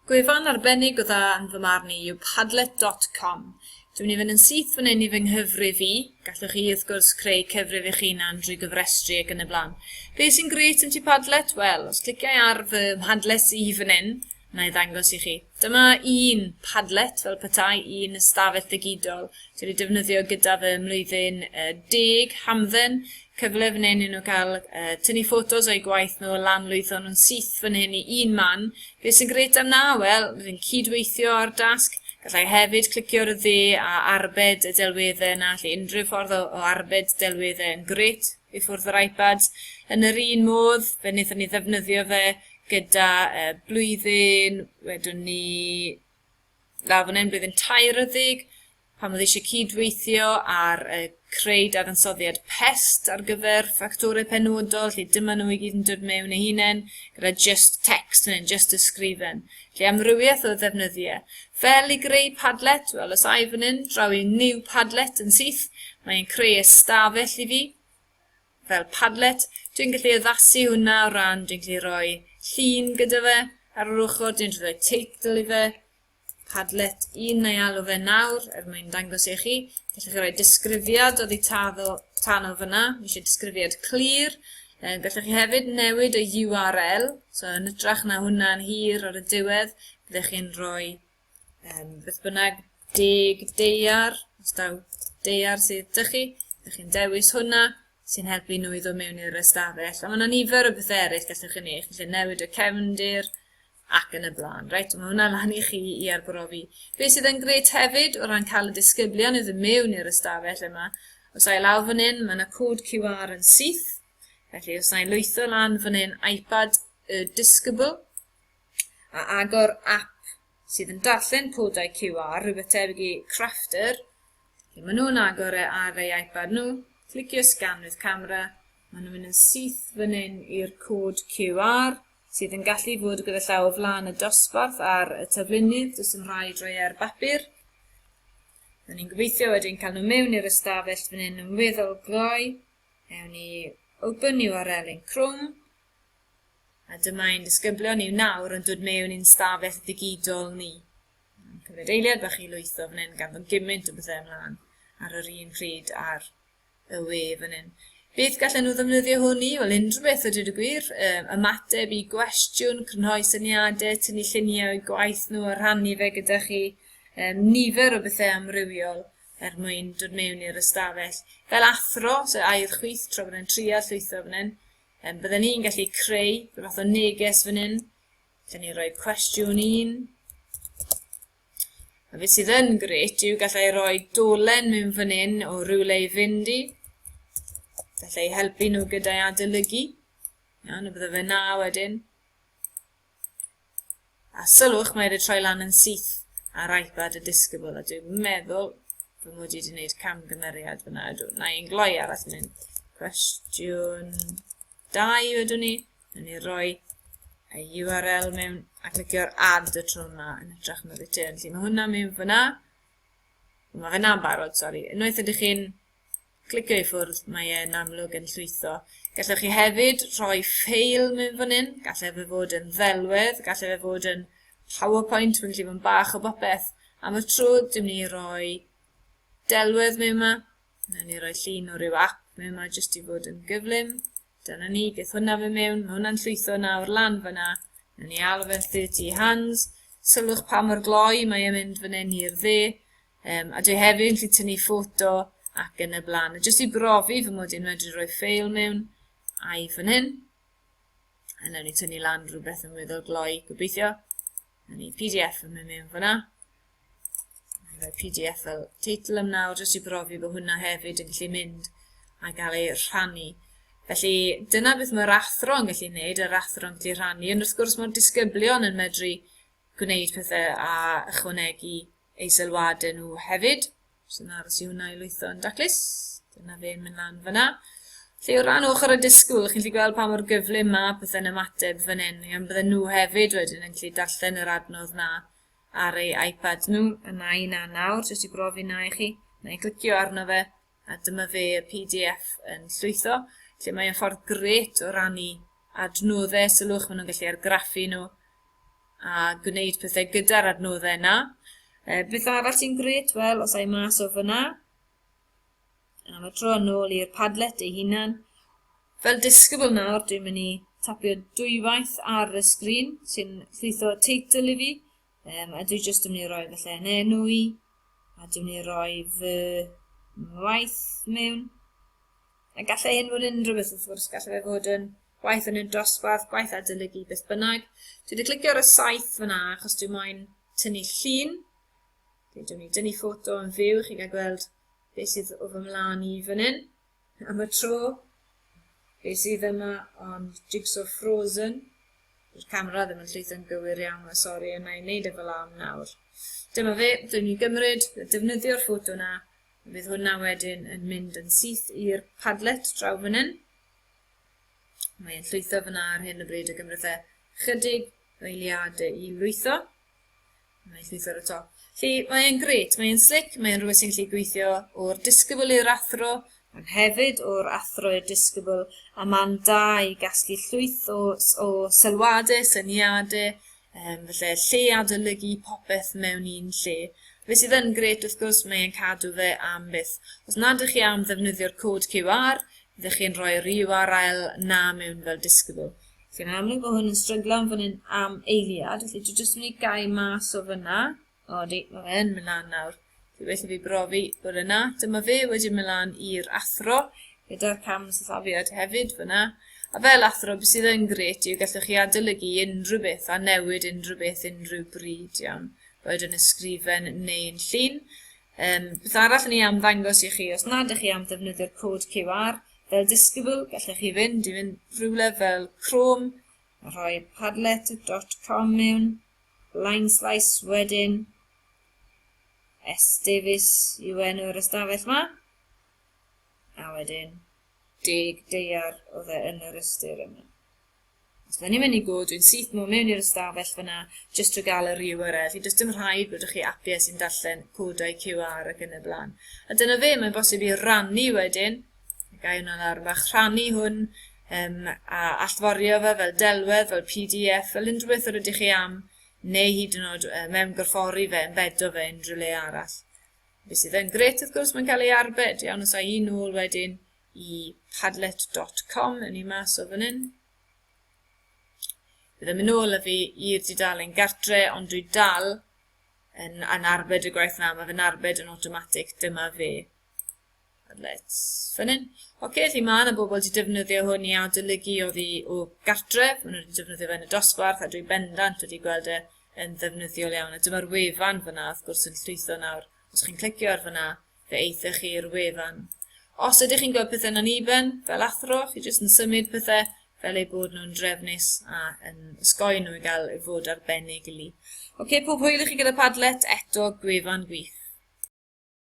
Gwefan arbennig o dda yn fy marn i yw Padlet dot com. Dwi'n mynd i fynd yn syth fan hyn i fy nghyfrif i, gallwch chi wrth gwrs creu cyfrif eich hunan drwy gyfrestru ac yn y blaen. Be sy'n grêt am Tŷ Padlet? Wel, os cliciau ar fy mhadlet i fan hyn, wna i ddangos i chi. Dyma un Padlet fel petai un ystafell ddigidol. Dwi wedi defnyddio gyda fy mlwyddyn uh, deg hamdden, cyfle fan hyn i nhw cael uh, tynnu ffotos o'i gwaith nhw, lan lwytho nhw'n syth fan hyn i un man. Beth sy'n gret am na? Wel, rydyn cydweithio ar dasg, gallai hefyd clicio ar y dde a arbed y delweddau yna, lle unrhyw ffordd o, o arbed delweddau yn gret. i ffwrdd o'r iPad. Yn yr un modd, fe wnaethon ni ddefnyddio fe gyda e, blwyddyn, wedwn ni, na, fan hyn, blwyddyn tair ydig, pan oedd eisiau cyd-weithio ar y creu dadansoddiad pest ar gyfer ffactorau penodol, lle dyma nhw i gyd yn dod mewn eu hunain, gyda just text yn just ysgrifen. Lle amrywiaeth o ddefnyddiau. Fel i greu Padlet, wel os ai fan hyn, draw i New Padlet yn syth, mae e'n creu ystafell i fi, fel Padlet. Dwi'n gallu addasu hwnna o ran, dwi'n gallu rhoi llun gyda fe ar yr ochr, dwi'n gallu rhoi teitl i fe, Padlet 1 neu alw fe nawr, er mwyn dangos i chi. Felly chi rhoi disgrifiad oddi taddo, tano fyna, eisiau disgrifiad clir, Yym, gallwch chi hefyd newid y URL, so yn ytrach na hwnna'n hir ar y diwedd, byddech chi'n rhoi um, beth bynnag deg deiar, os daw deiar sydd dych chi, byddech chi'n dewis hwnna sy'n helpu nhw i ddod mewn i'r ystafell. A mae yna nifer o bethau eraill gallwch chi wneud, chi'n gallu newid y cefndir, ac yn y blaen. Reit, mae hwnna lan i chi i arbrofi. Be sydd yn gret hefyd o ran cael y disgyblion i ddod mewn i'r ystafell yma, os a'i lawr fan hyn, mae yna cod QR yn syth, felly os a'i lwytho lan fan hyn iPad y disgybl, a agor app sydd yn darllen codau QR, rhywbeth tebyg i Crafter, felly maen nhw'n agor e ar ei iPad nhw, clicio scan with camera, maen nhw'n mynd yn syth fan hyn i'r cod QR, sydd yn gallu bod gyda llaw o flaen y dosbarth ar y taflunydd, does dim rhaid rhoi e ar bapur. Rydyn ni'n gobeithio wedyn cael nhw mewn i'r ystafell fan hyn yn weddol gloi. Ewn ni open new URL yn Chrome. A dyma ein disgyblion ni nawr yn dod mewn i'n stafell ddigidol ni. Mae'n cymryd eiliad bach i lwytho fan hyn gan fod gymaint o bethau ymlaen ar yr un pryd ar y we fan hyn. Beth gallen nhw ddefnyddio hwn i? Wel, unrhyw beth o dweud y gwir, um, ymateb i gwestiwn, crynhoi syniadau, tynnu lluniau o'i gwaith nhw a rhannu fe gyda chi, um, nifer o bethau amrywiol er mwyn dod mewn i'r ystafell. Fel athro, so air chwyth tro bod e'n tria llwytho fan hyn, um, bydden ni'n gallu creu rhywbeth o neges fan hyn, lle ni roi cwestiwn un, A beth sydd yn gret yw gallai roi dolen mewn fan hyn o rywle i fynd i. Gallai helpu nhw gyda'i adolygu. Iawn, y bydde fe na wedyn. A sylwch, mae wedi troi lan yn syth ar iPad y disgybl, a dwi'n meddwl fy mod i wedi gwneud camgymeriad fyna. Ydw, na i'n gloi arall mynd. Cwestiwn Da i wedwn ni, yn ni roi y URL mewn a clicio'r add y tro yma yn hytrach na return. Felly mae hwnna mewn fyna. Mae fyna'n barod, sori. Unwaith ydych chi'n clicio i ffwrdd, mae e'n amlwg yn llwytho. Gallwch chi hefyd rhoi ffeil mewn fan hyn, gallai fe fod yn ddelwedd, gallai fe fod yn PowerPoint, mae'n gallu bod yn bach o bopeth. Am y tro, dwi'n mynd i roi delwedd mewn yma, Wnawn ni roi llun o ryw app mewn yma jyst i fod yn gyflym. Dyna ni, beth hwnna fe mewn, mae hwnna'n llwytho nawr lan fyna. Wnawn ni alw fe'n 30 hands. Sylwch pa mor gloi mae e'n mynd fan hyn i'r dde. Um, a dwi hefyd yn gallu tynnu ffoto ac yn y blaen. A jyst i brofi fy mod i'n medru rhoi ffeil mewn a'i fan hyn. A wnawn ni tynnu lan rhywbeth yn weddol gloi, gobeithio. Wnawn ni PDF yn mynd mewn fyna. Mae PDF fel teitl am nawr jyst i brofi bod hwnna hefyd yn gallu mynd a gael ei rhannu. Felly dyna beth mae'r athro yn gallu gwneud, yr athro yn gallu rhannu, ond wrth gwrs mae'r disgyblion yn medru gwneud pethau a ychwanegu eu sylwadau nhw hefyd. So yna aros i hwnna i lwytho yn daclus. Dyna fe yn mynd lan fyna. Felly o ran ochr y disgwyl, chi'n gallu gweld pa mor gyflym mae pethau'n ymateb fan hyn, gan bydden nhw hefyd wedyn yn gallu darllen yr adnodd na ar ei iPad nhw. A na i na nawr, jyst i brofi na i chi. Na i glicio arno fe, a dyma fe y PDF yn llwytho, lle mae'n ffordd gret o rannu adnoddau sylwch, maen nhw'n gallu argraffu nhw a gwneud pethau gyda'r adnoddau yna. E, beth arall sy'n gret? Wel, os ai mas o fyna, Am y tro yn ôl i'r Padlet ei hunan. Fel disgybl nawr, dwi'n mynd i tapio dwywaith ar y sgrin, sy'n llwytho teitl i fi, um, a dwi jyst yn mynd i roi felly yn enw i, a dwi'n mynd i roi fy waith mewn. A gallai hyn fod yn unrhyw beth wrth gwrs, gallai fe fod yn gwaith yn y dosbarth, gwaith adolygu, beth bynnag. Dwi wedi clicio ar y saith fyna achos dwi'n moyn tynnu llun, Dwi dwn i dynnu ffoto yn fyw, chi gael gweld beth sydd o fy mlaen i fan hyn. Am y tro, beth sydd yma ond Jigsaw Frozen. Dyw'r camera ddim yn llwytho'n gywir iawn, mae sori, a na i wneud e fel am nawr. Dyma fe, dwi'n mynd i gymryd, defnyddio'r ffoto na, fydd hwnna wedyn yn mynd yn syth i'r padlet draw fan hyn. Mae'n llwytho fyna ar hyn y bryd y gymryd e chydig eiliadau i lwytho. Mae'n llwytho ar y top. Felly, mae e'n gret, mae e'n slic, mae e'n rhywbeth sy'n gallu gweithio o'r disgybl i'r athro, ond hefyd o'r athro i'r disgybl, a mae'n da i gasglu llwyth o, o sylwadau, syniadau, um, felly lle adolygu popeth mewn un lle. Fe sydd yn gret, wrth gwrs, mae e'n cadw fe am byth. Os nad ydych chi am ddefnyddio'r cod QR, ydych chi'n rhoi'r URL na mewn fel disgybl. Sy'n amlwg mae hwn yn stryglan fan hyn am eiliad, felly dwi jyst yn mynd i gau mas o fyna. O, di, mae fe yn mynd lan nawr. Dwi well i fi brofi bod yna. Dyma fe wedyn mynd lan i'r athro, gyda'r cam sythafiad hefyd fyna. A fel athro, beth sydd yn gret yw gallwch chi adolygu unrhyw beth a newid unrhyw beth unrhyw bryd iawn, boed yn ysgrifen neu'n llun. Yym, beth arall o'n i am ddangos i chi, os nad ych chi am ddefnyddio'r cod QR fel disgybl, gallech chi fynd i fynd rhywle fel Chrome, a rhoi padlet.com mewn, Line Slice wedyn, S Davies yw enw'r ystafell ma, a wedyn deg deiar oedd e yn yr ystyr yma. Os da ni'n mynd i go, dwi'n syth nôl mewn i'r ystafell fyna jyst drwy gael yr URL. I does dim rhaid bod chi appies i'n darllen codau QR ac yn y blaen. A dyna fe, mae'n bosib i rannu wedyn, gai hwnna lawr fach, rhannu hwn um, a allforio fe fel delwedd, fel PDF, fel unrhyw beth yr ydych chi am, neu hyd yn oed uh, mewn gorffori fe, embedo fe unrhyw le arall. Be sydd yn gret, wrth gwrs, mae'n cael ei arbed, iawn, os a'i un nôl wedyn, i padlet.com yn ei mas o fan hyn. Bydd yn mynd nôl â fi i'r dudalen gartre, ond dwi dal yn, yn arbed y gwaith na, mae fe'n arbed yn automatic, dyma fe. Let's fan hyn. Oce, okay, felly mae yna bobl wedi defnyddio hwn i adolygu oddi o gartre, maen nhw wedi defnyddio fe yn y dosbarth, a dwi bendant wedi gweld e yn ddefnyddiol iawn. A dyma'r wefan fyna, wrth gwrs, yn llwytho nawr. Os chi'n clicio ar fyna, fe eithoch chi'r wefan. Os ydych chi'n gweld pethau'n aniben, fel athro, chi jyst yn symud pethau fel eu bod nhw'n drefnus a yn ysgoi nhw i gael ei fod arbennig i li. Oce, pob hwyl i chi gyda Padlet, eto gwefan gwych.